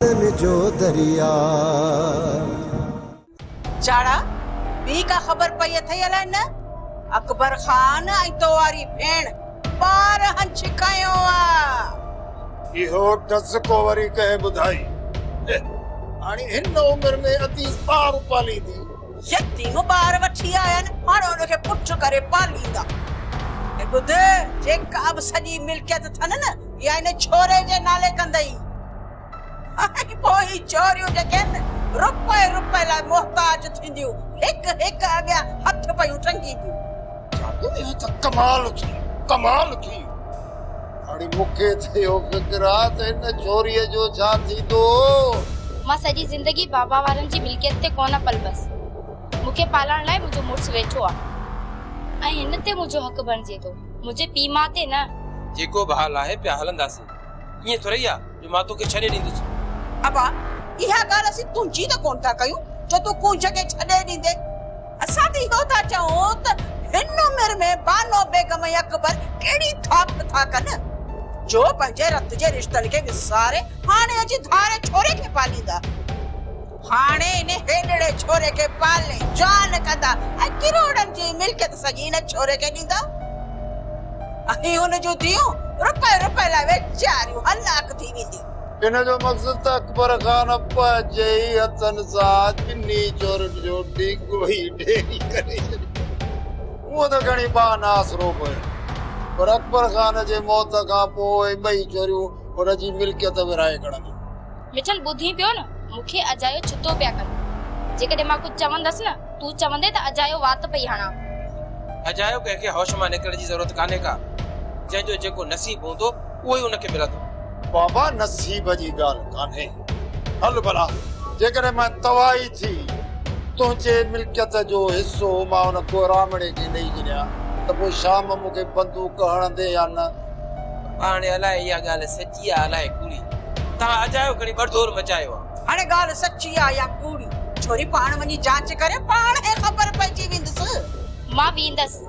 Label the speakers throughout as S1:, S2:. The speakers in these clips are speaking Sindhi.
S1: ڪارن جو درياء.
S2: چاڙها، ٻي ڪا خبر پئي اٿئي الائي نه؟ اڪبر خان ۽ تو واري ڀيڻ ٻارهن ڇڪايو آ. اهو ڊز
S3: ڪو وري ڪنهن ٻڌائي. هي هاڻي هن عمر ۾ اديس ٻار پاليندي. يتيم
S2: ٻار وٺي آيا آهن، هاڻ ان کي پٺ ڪري پاليندا. هي ٻڌ، جيڪا به سڄي ملڪيت اٿن نه، اها ان ڇوري جي نالي ڪندئي. ۽ پوء هي ڇوريون جيڪي آهن، رپئي رپئي لاء محتاج ٿينديون، هڪ هڪ اڳيان هٿ پيون ٽنگينديون. جادو اهو ته
S3: ڪمال ٿي، ڪمال ٿي. هاڻي مون کي ٿيو فڪر آ ته هن ڇوريء جو ڇا ٿيندو هو. مان
S4: سڄي زندگي بابا وارن جي ملڪيت تي ڪونه پلبس. مون کي پالڻ لاء منهنجو مڙس ويٺو آ ۽ هن تي منهنجو حق بڻجي ٿو، منهنجي پيء ماء تي نه. جيڪو به حال آهي
S5: پيا هلنداسين. ائين ٿورئي آ جو مان توکي ڇڏي ڏيندس. ابا،
S2: اها ڳالهه اسين تنهنجي ته ڪونه ٿا ڪيون جو تون ڪنهن جڳهه ڇڏي ڏيندين. اسان ته اهو ٿا چئون ته هن عمر ۾ بانو بيگم ۽ اڪبر ڪهڙي ٿاڪ ٿا ڪن جو پنهنجي رت جي رشتن کي وساري هاڻي اچي ڌاري ڇوري کي پاليندا. هاڻي ان هيڏڙي ڇوري کي پالي جوان ڪندا ۽ ڪروڙن جي ملڪيت سڄي ان ڇوري کي ڏيندا ۽ ان جون ڌيئون رپئي رپئي لاء ويچاريون هلاڪ ٿي وينديون. ان جو مقصد
S3: اڪبر خان پنهنجي ئي هٿن سان چني چورن جو ڊيگهو ئي ڍيري ڪري ڇڏيو. هو ته کڻي پاڻ ناسرو به هيو پر اڪبر خان جي موت کان پوء ٻئي چوريون هن جي ملڪيت ورهائي کڻنديون. مٺل ٻڌين پيو نه
S4: مون کي اجايو ڇتو پيا ڪن. جيڪڏهن مان ڪجهه چوندس نه تون چوندين ته اجايو وات پئي هڻان. اجايو
S5: ڪنهن کي هوش مان نڪرڻ جي ضرورت ڪانهي ڪا. جنهن جو جيڪو نصيب هوندو اهو ئي ان کي ملندو. بابا
S3: نصيب جي ڳالهه ڪانهي. هل ڀلا، جيڪڏهن مان تباهي ٿي، تنهنجي ملڪيت جو حصو مان ان ڪهراڻي کي ڏئي ڇڏيان ته پوء شام مون کي بندوق هڻندين يا نه؟ هاڻي
S5: الاء اها ڳالهه سچي آ الاء ڪوڙي. توهان اجايو کڻي ٻڙڌور مچايو آ. هاڻي ڳالهه سچي
S2: آ يا ڪوڙي؟ ڇوري پاڻ وڃي جاچ ڪري پاڻهي خبر پئجي ويندس. مان ويندس.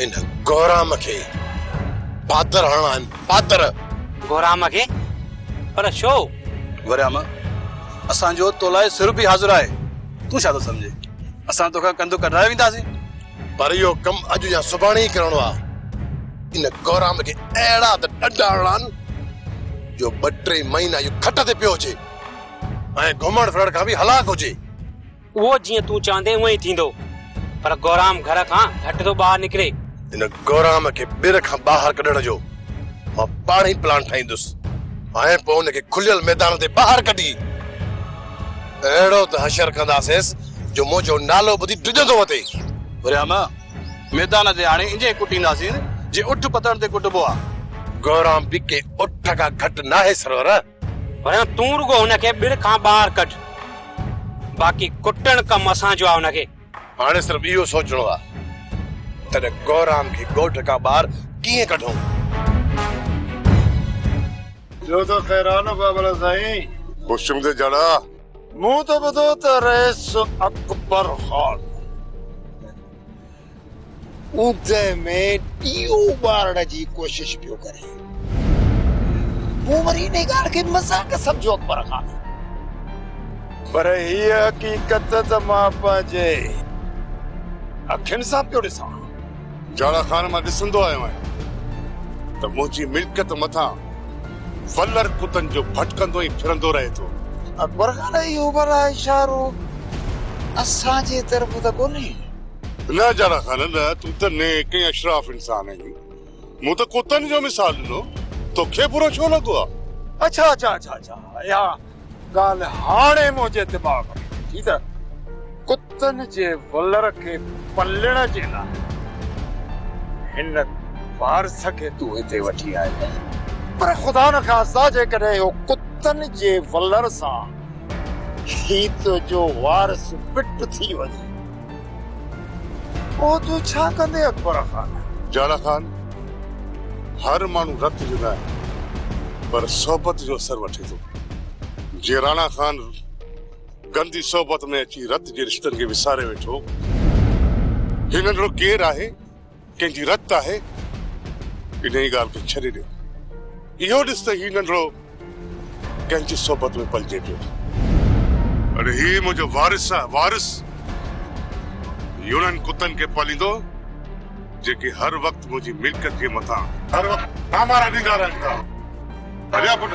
S6: ان گهرام
S7: کي پاتر هڻڻا آهن، پاتر! گهرام کي؟
S8: پر ڇو؟ گهرام،
S6: اسان جو تو لاء سر به حاضر آهي، تون ڇا ٿو سمجهين، اسان توکان ڪنڌ ڪڍرائي وينداسين؟ پر اهو
S7: ڪم اڄ يا سڀاڻي ئي ڪرڻو آهي. ان گهرام کي اهڙا ته ڏنڊ هڻڻا آهن، جو ٻه ٽي مهينا اهو کٽ تي پيو هجي ۽ گهمڻ ڦرڻ کان به هلاڪ هجي. اهو جيئن
S8: تون چوندين اونئن ئي ٿيندو. پر گورام گهر کان گهٽ ٿو ٻاهر نڪري. ان گورام
S7: کي ٻير کان ٻاهر ڪڍڻ جو مان پاڻ ئي پلان ٺاهيندس ۽ پوء ان کي کليل ميدان تي ٻاهر ڪڍي اهڙو ته حشر ڪنداسينس جو منهنجو نالو ٻڌي ڊڄندو وتي. گورام
S6: ميدان تي آڻي انجي ئي ڪٽينداسين جيئن اٺ پتڻ تي ڪٽبو آهي. گورام به
S7: ڪنهن اٺ کان گهٽ ناهي سرور. پريان تون
S8: رڳو هن کي ٻڙ کان ٻاهر ڪڍ، باقي ڪٽڻ ڪم اسان جو آ هن کي. هاڻي صرف اهو
S7: سوچڻو آ ته گورام کي ڳوٺ کان ٻاهر ڪيئن ڪڍون.
S3: ٻيو ته خير آ نه بابل سائين. هوشنگ تي جڙا.
S7: مون ته
S3: ٻڌو ته رئيس اڪبر خان اوندهه ۾ ڏيئو ٻارڻ جي ڪوشش پيو ڪري. مون وري انهيء ڳالهه کي مذاق سمجهيو اڪبر خان! پر هيء حقيقت ته مان پنهنجي اکين سان پيو ڏسان. جاڙا خان
S7: مان ڏسندو آيو آهيان ته منهنجي ملڪيت مٿان ولر ڪتن جو ڀٽڪندو ۽ ڦرندو رهي ٿو. اڪبر خان
S3: اهو ڀلا اشارو اسان جي طرف ته ڪونهي؟ نه جاڙا
S7: خان نه، تون ته نيڪ ۽ اشراف انسان آهين. مون ته ڪتن جو مثال ڏنو، توکي برو ڇو لڳو آ؟ اڇا اڇا اڇا اڇا
S3: اها ڳالهه هاڻي منهنجي دماغ ۾ اچي ته ڪتن جي ولر کي پلڻ جي لاء هن وارث کي تون هتي وٺي آيو آهين. پر خدا نخواسته جيڪڏهن اهو ڪتن جي ولر سان هي تنهنجو وارث پٽ ٿي وڃي. پوء تون ڇا ڪندين اڪبر خان؟ جاڙا خان،
S7: هر ماڻهو رت جو ناهي، پر صحبت جو اثر وٺي ٿو. جي راڻا خان گندي صحبت ۾ اچي رت جي رشتن کي وساري ويٺو، هي ننڍڙو ڪير آهي؟ ڪنهن جي رت آهي، انهيء ڳالهه کي ڇڏي ڏيو. اهو ڏس ته هي ننڍڙو ڪنهن جي صحبت ۾ پلجي پيو. اڙي هي منهنجو وارث آهي، وارث! هي انهن ڪتن کي پاليندو، جيڪي هر وقت منهنجي ملڪيت جي مٿان هر وقت ڀانڀارا ڏيندا رهن ٿا. هليا پٽ!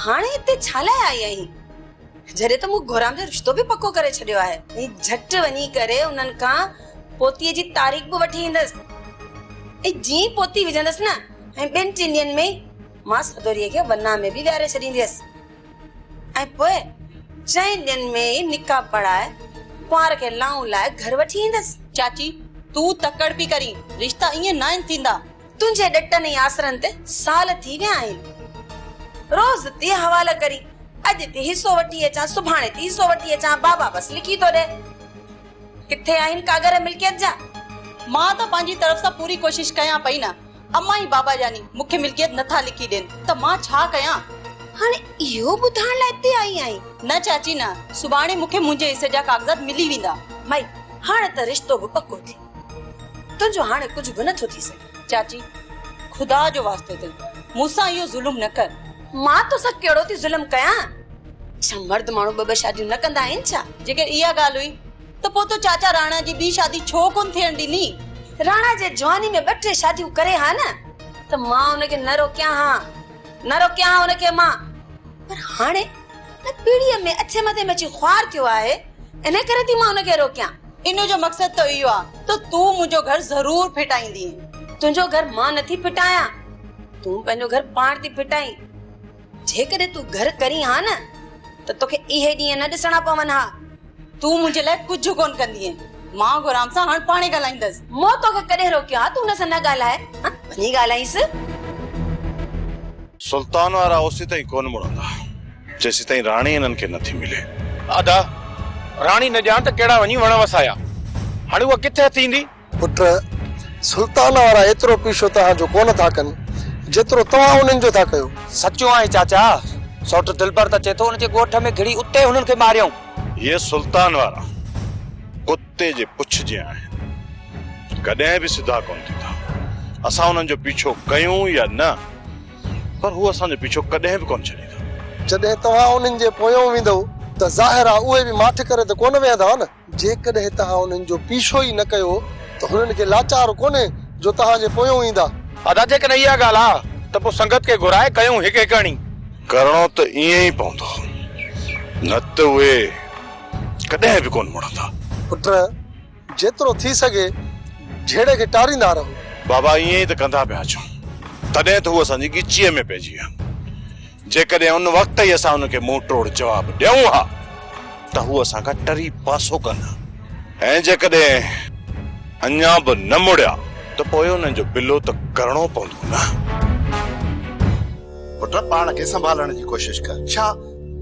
S1: هاڻي هتي ڇا لاء آئي آهين؟ جڏهن ته مون گهرام جو رشتو به پڪو ڪري ڇڏيو آهي. هي جهٽ وڃي ڪري انهن کان پوتيء جي تاريخ به وٺي ايندس ۽ جيئن ئي پوتي وجهندس نه ۽ ٻن ٽن ڏينهن ۾ ئي مان سدوريء کي ورناهه ۾ به ويهاري ڇڏينديس ۽ پوء چئن ڏينهن ۾ ئي نڪاح پڙهائي ڪنوار کي لانئون لائي گهر وٺي ايندس. چاچي تون
S2: تڪڙ پئي ڪرين، رشتا ائين ناهن ٿيندا. تنهنجي ڏٽن ۽
S1: آسرن تي سال ٿي ويا آهن. روز ٿي حوالو ڪرين. اڄ ٿي حصو وٺي اچان، سڀاڻي ٿي حصو وٺي اچان. بابا بس لکي ٿو ڏئي. ڪٿي آهن ڪاڳر ملڪيت جا؟ مان ته
S2: پنهنجي طرف سان پوري ڪوشش ڪيان پئي نه. امان ۽ بابا جاني مون کي ملڪيت نه ٿا لکي ڏين ته مان ڇا ڪيان؟ هاڻي
S1: اهو ٻڌائڻ لاء هتي آئي آهين؟ نه چاچي نه.
S2: سڀاڻي مون کي منهنجي حصي جا ڪاغذات ملي ويندا. مئي، هاڻ
S1: ته رشتو به پڪو ٿي. تنهنجو هاڻي ڪجهه به نه ٿو ٿي سگهي. چاچي!
S2: خدا جو واسطو اٿئي، مون سان اهو ظلم نه ڪر. مان تو سان
S1: ڪهڙو ٿي ظلم ڪيان؟ ڇا مرد ماڻهو ٻه ٻه شاديون نه ڪندا آهن ڇا؟ جيڪر اها ڳالهه هئي
S2: ته پوء تو چاچا راڻا جي ٻي شادي ڇو ڪونه ٿيڻ ڏني؟ راڻا جي
S1: جواني ۾ ٻه ٽي شاديون ڪري ها نه ته مان ان کي نه روڪيان ها، نه روڪيان ها ان کي مان. پر هاڻي ان پيڙهيء ۾ اٿي مٿي ۾ اچي خوار ٿيو آهي، انهيء ڪري ٿي مان ان کي روڪيان. ان جو مقصد ته
S2: اهو آهي ته تون منهنجو گهر ضرور ڦٽائيندين. تنهنجو گهر
S1: مان نٿي ڦٽايان، تون پنهنجو گهر پاڻ ٿي ڦٽائين. جيڪڏهن تون گهر ڪرين ها نه ته توکي اهي ڏينهن نه ڏسڻا پون ها. تون منهنجي لاء
S2: ڪجهه ڪونه ڪندينء. مان غلام سان هاڻ پاڻهي ڳالهائيندس. مون توکي ڪڏهن
S1: روڪيو آهي ته هن سان نه ڳالهاء؟ وڃي ڳالهائينس.
S7: سلطان وارا اوسيتائين ڪونه مڙندا. جيسيتائين راڻي انهن کي نه ٿي ملي. ادا!
S8: راڻي نه ڄاڻ ته ڪهڙا وڃي وڻ وسايا. هاڻي اها ڪٿ هٿ ايندي؟ پٽ!
S9: سلطان وارا ايترو پيشو توهان جو ڪونه ٿا ڪن، جيترو توهان انهن جو ٿا ڪيو. سچو آهي چاچا.
S8: سؤٽ دلبر ته چئي ٿو ان جي ڳوٺ ۾ گهڙي اتي هنن کي ماريائون. اهي سلطان
S7: وارا ڪتي جي پڇ جيان آهن. ڪڏهن به سڌا ڪونه ٿيندا. اسان انهن جو پيڇو ڪيون يا نه. پر هو اسان جو پيڇو ڪڏهن به ڪونه ڇڏيندا. جڏهن توهان
S9: انهن جي پويان ويندؤ ته ظاهر آهي اهي به ماٺ ڪري ته ڪونه ويهندا نه. جيڪڏهن توهان انهن جو پيڇو ئي نه ڪيو ته هنن کي لاچار ڪونهي جو توهان جي پويان ايندا. ادا جيڪڏهن اها
S8: ڳالهه آ ته پوء سنگت کي گهرائي ڪيون هڪ هڪ اڻي. ڪرڻو ته
S7: ائين ئي پوندو نه ته اهي ڪڏهن به ڪونه مڙندا. پٽ!
S9: جيترو ٿي سگهي جهيڙي کي ٽاريندا رهو. بابا ائين ئي ته
S7: ڪندا پيا اچون، تڏهن ته هو اسان جي ڳچيء ۾ پئجي ويا. جيڪڏهن ان وقت ئي اسان هن کي منهن ٽوڙ جواب ڏيون ها ته هو اسان کان ٽري پاسو ڪن ها ۽ جيڪڏهن اڃا به نه مڙيا ته پوء انهن جو بلو ته ڪرڻو پوندو نه.
S10: پٽ پاڻ کي سنڀالڻ جي ڪوشش ڪر. ڇا،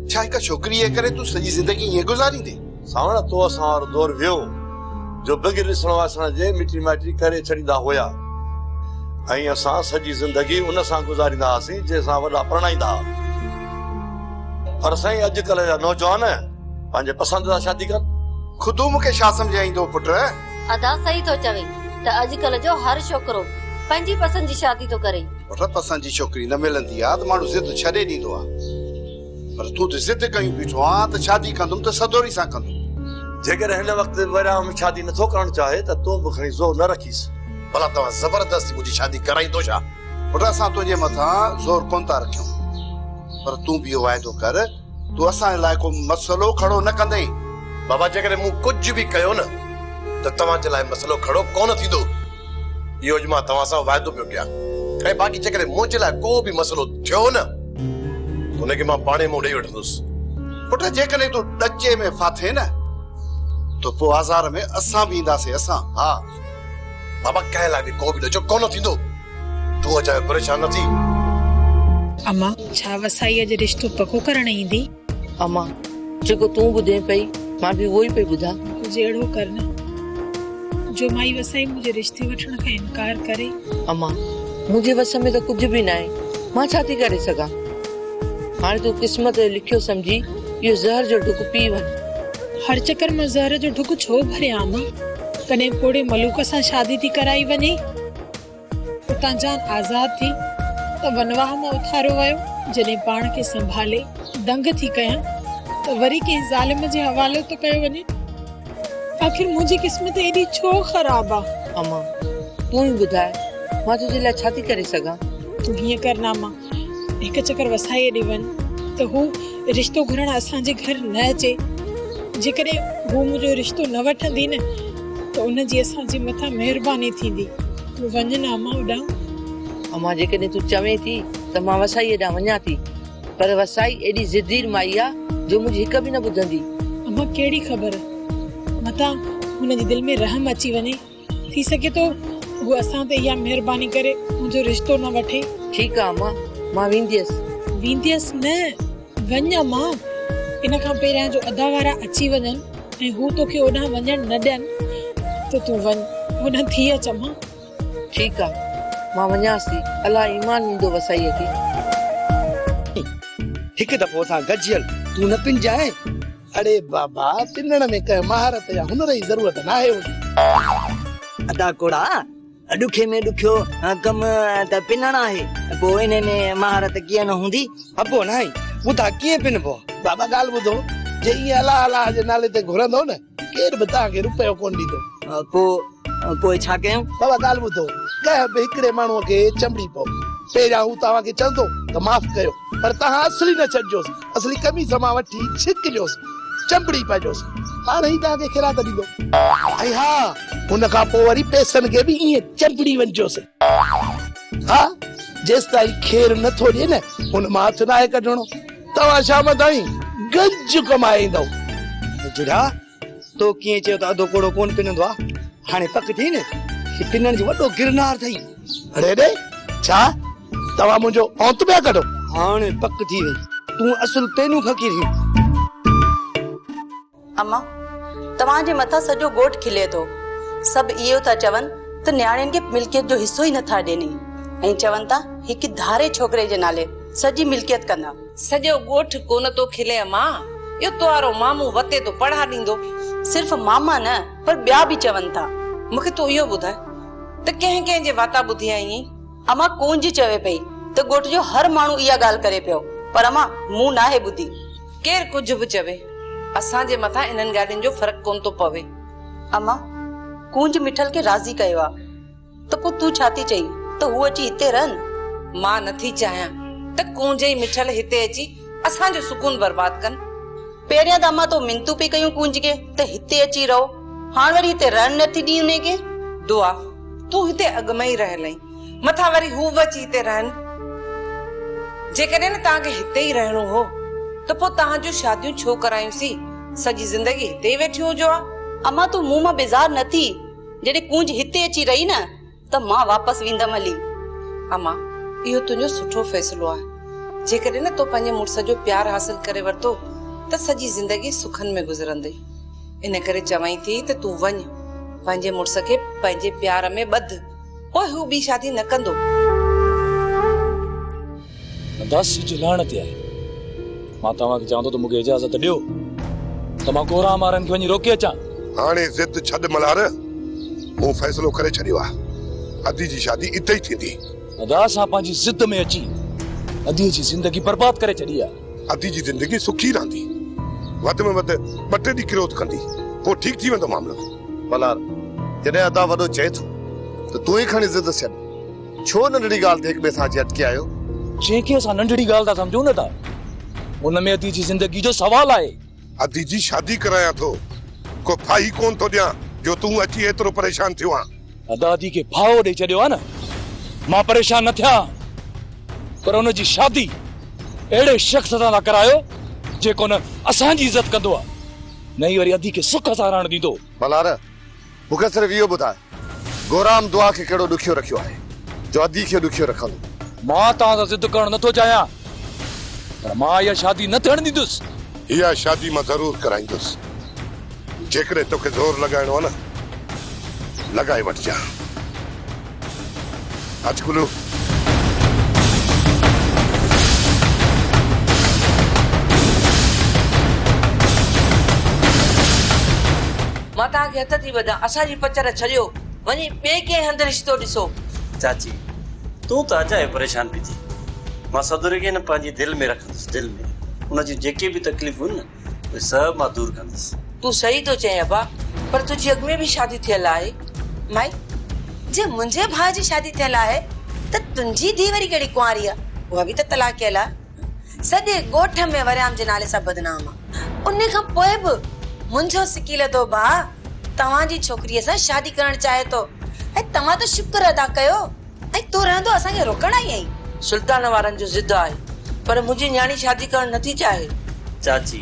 S10: ڇا هڪ ڇوڪريء جي ڪري تون سڄي زندگي ائين گذاريندين؟ ساوڻ تو اسان
S11: وارو دور ويو، جو بغير ڏسڻ واسڻ جي مٽي مائٽي ڪري ڇڏيندا هيا ۽ اسان سڄي زندگي ان سان گذاريندا هئاسين جنهن سان وڏا پرڻائيندا هئا. پر سائين اڄڪلهه جا نوجوان پنهنجي پسند سان شادي ڪن. خودو مون کي شا
S10: سمجهائيندو پٽ. ادا صحيح
S12: ٿو چوين ته اڄڪلهه جو هر ڇوڪرو پنهنجي پسند جي شادي ٿو ڪري. پٽ پسند جي ڇوڪري
S10: نه ملندي آ ته ماڻهو ضد ڇڏي ڏيندو آ. پر تون ته ضد ڪيون بيٺو آهين ته شادي ڪندم ته سدوري سان ڪندم. جيڪڏهن هن
S11: وقت ورهاڱ شادي نه ٿو ڪرڻ چاهي ته تون به کڻي زور نه رکيس. ڀلا توهان
S7: زبردستي منهنجي شادي ڪرائيندو ڇا؟ پٽ اسان تنهنجي
S10: مٿان زور ڪونه ٿا رکيون. پر تون به اهو واعدو ڪر تون اسان لاء ڪو مسئلو کڙو نه ڪندين. بابا جيڪڏهن
S7: مون ڪجهه به ڪيو نه ته توهان جي لاء مسئلو کڙو ڪونه ٿيندو. اهو اڄ مان توهان سان واعدو پيو ڪيان ۽ باقي جيڪڏهن منهنجي لاء ڪو به مسئلو ٿيو نه ته ان کي مان پاڻهي منهن ڏيئي وٺندس. پٽ
S10: جيڪڏهن تون ڏچي ۾ ڦاٿين نه ته پوء آزار ۾ اسان به اينداسين اسان. ها
S7: بابا ڪنهن لاء به ڪو به ڏچو ڪونه ٿيندو تون اجايو پريشان نه ٿي.
S13: امان ڇا وسائيء جو رشتو
S14: پڪو
S13: ڪرڻ ايندي؟ اما جيڪو تون ٻڌين پئي مان به اهو ئي پئي ٻڌا. ڪجهه اهڙو ڪر نه
S14: جو مائي وسائي منهنجي رشتي وٺڻ کان انڪار ڪري. اما منهنجي
S13: وس ۾ ته ڪجهه به ناهي مان ڇا ٿي ڪري سگهان. هاڻي تون قسمت جو لکيو سمجهي اهو زهر جو ڍڪ پي وڃ. هر چڪر
S14: مان زهر جو ڍڪ ڇو ڀريان اما. ڪڏهن پوڙهي ملوڪ سان شادي ٿي ڪرائي وڃي. اتان جان آزاد ٿي ته ونواهه مان اٿاريو ويو. جڏهن پاڻ کي سنڀالي دنگ ٿي ڪيان ته وري ڪنهن ظالم جي حوالي ٿو ڪيو وڃي. آخر منهنجي قسمت ايڏي ڇو خراب آ؟ امان!
S13: تون ئي ٻڌاء مان تنهنجي لاء ڇا ٿي ڪري سگهان؟ تون هيئن ڪر
S14: ناما هڪ چڪر وسائيء ڏي وڃ ته هو رشتو گهرڻ اسان جي گهر نه اچي. جيڪڏهن هوء منهنجو رشتو نه وٺندي نه ته ان جي اسان جي مٿان مهرباني ٿيندي. تون وڃ نه امان ڏانهن. امان
S13: جيڪڏهن تون چوين ٿي ته مان وسائيء ڏانهن وڃان ٿي. پر وسائي ايڏي ضدير مائي آ جو منهنجي هڪ به نه ٻڌندي. امان ڪهڙي
S14: خبر متان هن جي دل ۾ رحم اچي وڃي. ٿي سگهي ٿو هو اسان تي اها مهرباني ڪري منهنجو رشتو نه وٺي. ٺيڪ آ امان
S13: مان وينديس. وينديس نه
S14: وڃ امان ان کان پهريان جو ادا وارا اچي وڃن ۽ هو توکي اوڏانهن وڃڻ نه ڏين ته تون وڃ هوڏانهن ٿي اچ امان. ٺيڪ آ
S13: مان وڃانس ٿي الاء ايمان ويندو وسائيء کي.
S15: هڪ دفعو اسان گجيل تون نه پنجانء. اڙي بابا پنڻ ۾ ڪنهن مهارت يا هنر جي ضرورت ناهي هوندي. ادا ڪوڙا
S16: ڏکي ۾ ڏکيو ڪم ته پنڻ آهي پوء انهي ۾ مهارت ڪيئن نه هوندي. ابو ناهي
S15: ٻڌاء ڪيئن پنبو. بابا ڳالهه ٻڌو جي ايئن الله الله جي نالي تي گهرندو نه ڪير به توهان کي رپيو ڪونه ڏيندو. پوء پوء ڇا
S16: ڪيون. بابا ڳالهه ٻڌو
S15: ڪنهن به هڪڙي ماڻهو کي چنبڙي پئو پهريان هو توهان کي چوندو ته معاف ڪيو. پر توهان اصلي نه ڇڏجوس، اصلي قميص مان وٺي ڇڪ ڏيوس، چنبڙي پائجوس، پاڻ ئي توهان کي خيرات ڏيندو. ۽ ها، ان کان پوء وري پئسن کي به ائين چنبڙي وڃجوس. ها، جيستائين خير نه ٿو ڏئي نه، ان مان هٿ ناهي ڪڍڻو. توهان شام تائين گنج ڪمائي ايندؤ. جهڙا.
S16: تو ڪيئن چيو ته اڌو ڪوڙو ڪونه پنندو آ هاڻي پڪ ٿئي نه هي پنڻ جو وڏو گرنار ٿئي. اڙي ڙي
S15: ڇا توهان منهنجو اونت پيا ڪڍو. هاڻي پڪ ٿي
S16: وئي تون اصل پينون فقير هين.
S1: اما توهان جي مٿان سڄو ڳوٺ کلي ٿو سڀ اهيو ٿا چون ته نياڻين کي ملڪيت جو حصو ئي نٿا ڏين ۽ چون ٿا هڪ ڌاري ڇوڪري جي نالي سڄي ملڪيت ڪندا. سڄو ڳوٺ
S17: ڪونه ٿو کلي اما، اهو توهارو مامو وتي ٿو پڙها ڏيندو. صرف ماما
S1: نه پر ٻيا به چون ٿا. مون کي تون اهو ٻڌاء
S17: ته ڪنهن ڪنهن جي واتا ٻڌي آئينء؟ اما ڪونج
S1: چوي پئي ته ڳوٺ جو هر ماڻهو اها ڳالهه ڪري پيو، پر اما مون ناهي ٻڌي. ڪير ڪجهه به
S17: چوي، اسان جي مٿان انهن ڳالهين جو فرق ڪونه ٿو پوي. اما
S1: ڪونج مٺل کي راضي ڪيو آ. ته پوء تون ڇا ٿي چئين ته هو اچي هتي رهن؟ مان نه ٿي چاهيان
S17: ته ڪونجي ۽ مٺل هتي اچي اسان جو سڪون برباد ڪن. پهريان ته
S1: امان تو منتون پئي ڪيون ڪونج کي ته هتي اچي رهو، هاڻ وري هتي رهڻ نه ٿي ڏين انهي کي؟ دعا،
S17: تون هتي اڳ ۾ ئي رهيل آهين، مٿان وري هو به اچي هتي رهن؟ جيڪڏهن نه توهان کي هتي ئي رهڻو هو ته پوء توهان جون شاديون ڇو ڪرايون سين، سڄي زندگي هتي ئي ويٺيون هجو ها. امان تون مون مان
S1: بيزار نه ٿي. جڏهن ڪونج هتي اچي رهي نه ته مان واپس ويندم هلي. اما
S17: اهو تنهنجو سٺو فيصلو آهي. جيڪڏهن نه تو پنهنجي مڙس جو پيار حاصل ڪري ورتو ته سڄي زندگي سکن ۾ گذرندي. ان ڪري چوانء ٿي ته تون وڃ، پنهنجي مڙس کي پنهنجي پيار ۾ ٻڌ، پوء هو ٻي شادي نه ڪندو.
S18: نداسي جي لهڻ تي آهي. مان توهان کي چوان ٿو ته مون کي اجازت ڏيو ته مان ڪورانهن وارن کي وڃي روڪي اچان. هاڻي ضد ڇڏ
S7: ملهار، مون فيصلو ڪري ڇڏيو آهي. ادي جي شادي اتي ئي ٿيندي. نداس سان پنهنجي
S18: ضد ۾ اچي ادي جي زندگي برباد ڪري ڇڏي آهي. ادي جي زندگي
S7: سکي رهندي. وڌ ۾ وڌ ٻه ٽي ڏينهن ڪروڌ ڪندي. پوء ٺيڪ ٿي ويندو معاملو. ملهار،
S11: جڏهن ادا وڏو چئي ٿو ته تون ئي کڻي ضد ڇڏ. ڇو ننڍڙي ڳالهه تي هڪٻئي سان اچي اٽڪي آيو؟ جنهن کي اسان
S18: ننڍڙي ڳالهه ٿا سمجهون نه ته ان ۾ ادي جي زندگي جو سوال آهي. ادي جي شادي
S7: ڪرايان ٿو. ڪو ڦاهي ڪونه ٿو ڏيان جو تون اچي ايترو پريشان ٿيو آن. ادا ادي کي ڦاهو
S18: ڏئي ڇڏيو آهي نه. مان پريشان نه ٿيا هان پر ان جي شادي اهڙي شخص سان ٿا ڪرايو جيڪو نه اسان جي عزت ڪندو آهي نه ئي وري ادي کي سک ساراهڻ ڏيندو. ملهار!
S11: مون کي صرف اهو ٻڌاء، گورام دعا کي ڪهڙو ڏکيو رکيو آهي، جو ادي کي ڏکيو رکندو؟ مان
S18: توهان سان ضد ڪرڻ نٿو چاهيان، پر مان اها شادي نه ٿيڻ ڏيندس. اها
S7: شادي مان ضرور ڪرائيندس، جيڪڏهن توکي زور لڳائڻو آهي نه، لڳائي وٺجانء. اچ ڪلو.
S13: مان توهان کي هٿ ٿي ٻڌان، اسان جي پچر ڇڏيو، وڃي ٻئي ڪنهن هنڌ رشتو ڏسو. چاچي،
S19: تون ته اجايو پريشان پئي ٿين. مان سڀ رڳي نه پنهنجي دل ۾ رکندس، دل ۾. ان جون جيڪي به تڪليفون هن نه، اهي سڀ مان دور ڪندس. تون صحيح ٿو چئين
S13: ابا پر تنهنجي اڳ ۾ به شادي ٿيل آهي. مائي
S1: جي منهنجي ڀاء جي شادي ٿيل آهي ته تنهنجي ڌي وري ڪهڙي ڪنواري آ اها به ته طلاق ڪيل آ سڄي ڳوٺ ۾ وريام جي نالي سان بدنام آ انهي کان پوء به منهنجو سڪي لڌو ڀاء توهان جي ڇوڪري سان شادي ڪرڻ چاهي ٿو ۽ توهان ته شڪر ادا ڪيو ۽ تون رهندو اسان کي روڪڻ آئي آهين. سلطان وارن جو
S13: ضد آهي. پر منهنجي نياڻي شادي ڪرڻ نٿي چاهي. چاچي،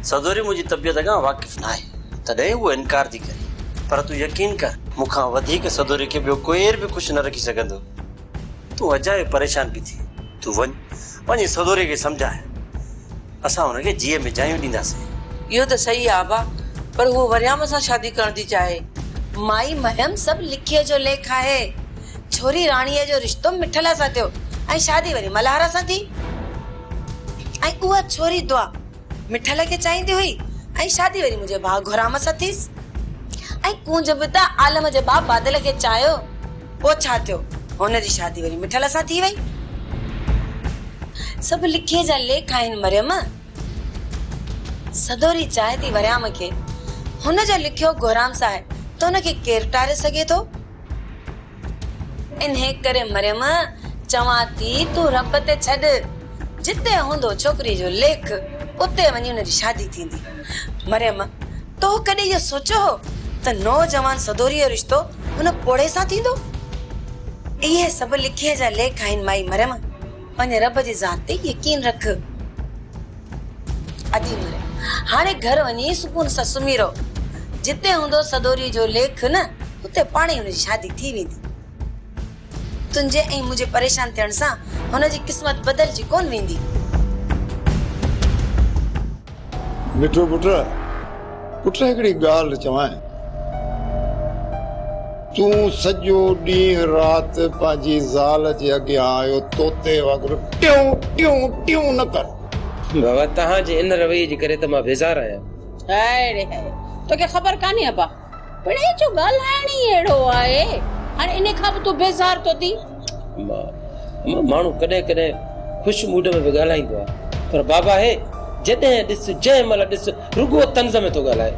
S19: سدوري منهنجي طبيعت کان واقف ناهي، تڏهن هوء انڪار ٿي ڪري. پر تون يقين ڪر، مون کان وڌيڪ سدوري کي ٻيو ڪير به خوش نه رکي سگهندو. تون اجايو پريشان پئي ٿين. تون وڃ، پنهنجي سهوري کي سمجهاء، اسان هن کي جيء ۾ جايون ڏينداسين. اهو ته صحيح
S13: آ ابا، پر هوء وريام سان شادي ڪرڻ ٿي چاهي. مائي مريم
S1: سڀ لکيء جو ليک آهي. ڇوري راڻيء جو رشتو مٺلا سان ٿيو ۽ شادي وري ملهارا سان ٿي ۽ اها ڇوري دعا مٺل کي چاهيندي هئي ۽ شادي وري منهنجي ڀاء گهرام سان ٿيس ۽ ڪونج به ته عالم جي ڀاء بادل کي چاهيو پوء ڇا ٿيو هن جي شادي وري مٺل سان ٿي وئي. سڀ لکيء جا ليک آهن مريم. سدوري چاهي ٿي وريام کي هن جو لکيو گهرام سان آهي ته ان کي ڪير ٽاري سگهي ٿو. انهيء ڪري مريم، چوان ٿي تون رب تي ڇڏ، جتي هوندو ڇوڪريء جو ليک، اتي وڃي ان جي شادي ٿيندي. مريم، تو ڪڏهن اهو سوچيو هو ته نوجوان سدوريء جو رشتو ان پوڙهي سان ٿيندو؟ اهي سڀ لکيء جا ليک آهن مائي مريم. پنهنجي رب جي ذات تي يقين رک. ادي مري هاڻي گهر وڃي سڪون سان سمهي رهو. جتي هوندو سدوري جو ليک نه اتي پاڻهي هن جي شادي ٿي ويندي. تنهنجي ۽ منهنجي پريشان ٿيڻ سان هن جي قسمت بدلجي ڪونه ويندي.
S3: مٺو پٽ، پٽ هڪڙي ڳالهه چوانء. تون سڄو ڏينهن رات پنهنجي زال جي اڳيان اهو طوطي وانگر ٽيون ٽيون ٽيون نه ڪر. بابا، توهان
S5: جي ان رويي جي ڪري ته مان بيزار آهيان. هاء ري هاء،
S2: توکي خبر ڪانهي ابا. پڻهين جو ڳالهائڻ ئي اهڙو آهي. هاڻي انهي کان به تون بيزار ٿو ٿين. اما،
S5: اما ماڻهو ڪڏهن ڪڏهن خوش موڊ ۾ به ڳالهائيندو آهي. پر بابا هي جڏهن ڏس، جنهن مهل ڏس رڳو طنز ۾ ٿو ڳالهائي.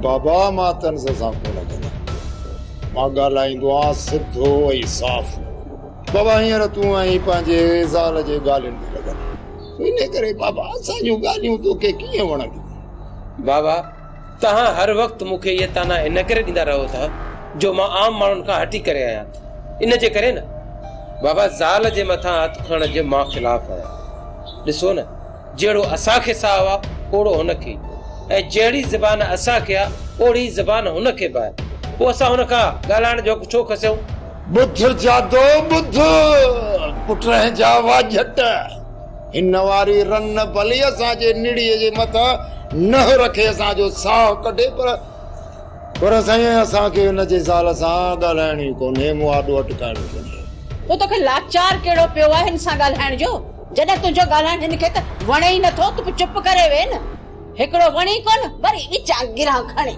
S5: بابا
S3: مان طنز سان ڪونه ڳالهائيندو آهيان. مان ڳالهائيندو آهيان سڌو ۽ صاف. بابا هينئر تون آهين پنهنجي زال جي ڳالهين ۾ لڳل. انهي ڪري بابا اسان جون ڳالهيون توکي ڪيئن وڻنديون. بابا،
S5: توهان هر وقت مون کي اهي طعنا ان ڪري ڏيندا رهو ٿا جو مان عام ماڻهن کان هٽي ڪري آهيان ان جي ڪري نه بابا زال جي مٿان هٿ کڻڻ جي مان خلاف آهيان ڏسو نه جهڙو اسان کي ساهه آهي اوڙو هن کي ۽ جهڙي زبان اسان کي آهي اوڙي زبان هن کي به آهي پوء اسان هن کان ڳالهائڻ جو حق ڇو کسيون؟ ٻڌ
S3: جادو ٻڌ پٽ رهين جا واجهٽ. هن واري رن ڀلي اسان جي نڙيء جي مٿان نهه رکي اسان جو ساهه ڪڍي پر پر سائين اسان کي هن جي زال سان ڳالهائڻ ئي ڪونهي، مون آڏو اٽڪائڻو ڪونهي. پوء توکي
S2: لاچار ڪهڙو پيو آهي هن سان ڳالهائڻ جو؟ جڏهن تنهنجو ڳالهائڻ هن کي ته وڻي ئي نٿو ته پوء چپ ڪري ويهه نه. هڪڙو وڻي ڪونه وري وچان گرهان کڻي.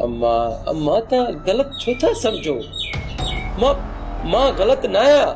S2: اما اما
S5: توهان غلط ڇو ٿا سمجهو مان مان غلط ناهيان.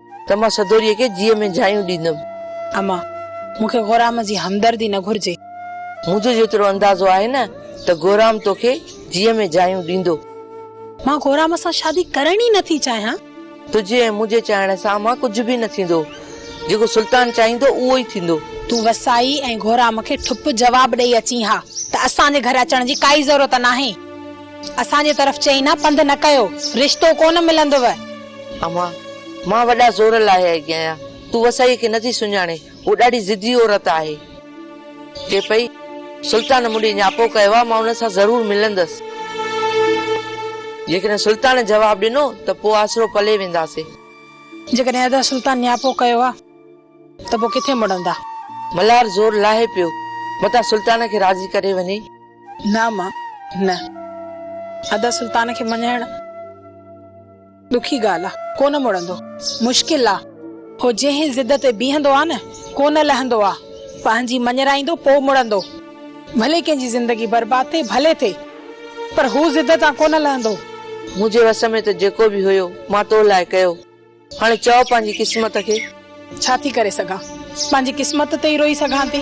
S13: ته مان سدوريء کي جيء ۾ جايون ڏيندم. امان،
S14: مون کي غورام جي همدردي نه گهرجي. منهنجو جيترو
S13: اندازو آهي نه ته غورام تو کي جيء ۾ جايون ڏيندو. مان
S14: غورام سان شادي ڪرڻ ئي نه ٿي چاهيان. تنهنجي ۽ منهنجي
S13: چاهڻ سان امان ڪجهه به نه ٿيندو. جيڪو سلطان چاهيندو
S14: اهو ئي
S13: ٿيندو.
S14: تون
S13: وسائي
S14: ۽
S13: غورام
S14: کي ٺپ جواب ڏئي اچين ها ته اسان جي گهر اچڻ جي ڪائي ضرورت ناهي. اسان جي طرف چئي نه پنڌ نه ڪيو. رشتو ڪونه ملندو. امان،
S13: مان وڏا زور لاهي آئي آهيان، تون وسائيء کي نٿي سڃاڻين، هوء ڏاڍي ضدي عورت آهي. چئي پئي، سلطان مون ڏي نياپو ڪيو آهي، مان ان سان ضرور ملندس. جيڪڏهن سلطان جواب ڏنو ته پوء آسرو پلي وينداسين. جيڪڏهن
S14: ادا سلطان نياپو ڪيو آهي ته پوء ڪٿي مڙندا؟ ملهار زور
S13: لاهي پيو، متان سلطان کي راضي ڪري وڃي. نه امان،
S14: نه. ادا سلطان کي مڃائڻ. ڏکي ڳالهه آ، ڪونه مڙندو. مشڪل آ. هو جنهن ضد تي بيهندو آ نه، ڪو نه لهندو آ. پنهنجي مڃرائيندو، پوء مڙندو. ڀلي ڪنهن جي زندگي برباد ٿئي، ڀلي ٿئي. پر هو ضد تان ڪونه لهندو. منهنجي وس
S13: ۾ ته جيڪو به هيو، مان تو لاء ڪيو. هاڻي چئو
S14: پنهنجي قسمت کي. ڇا ٿي ڪري سگهان؟ پنهنجي
S13: قسمت
S14: تي ئي روئي
S13: سگهان
S14: ٿي.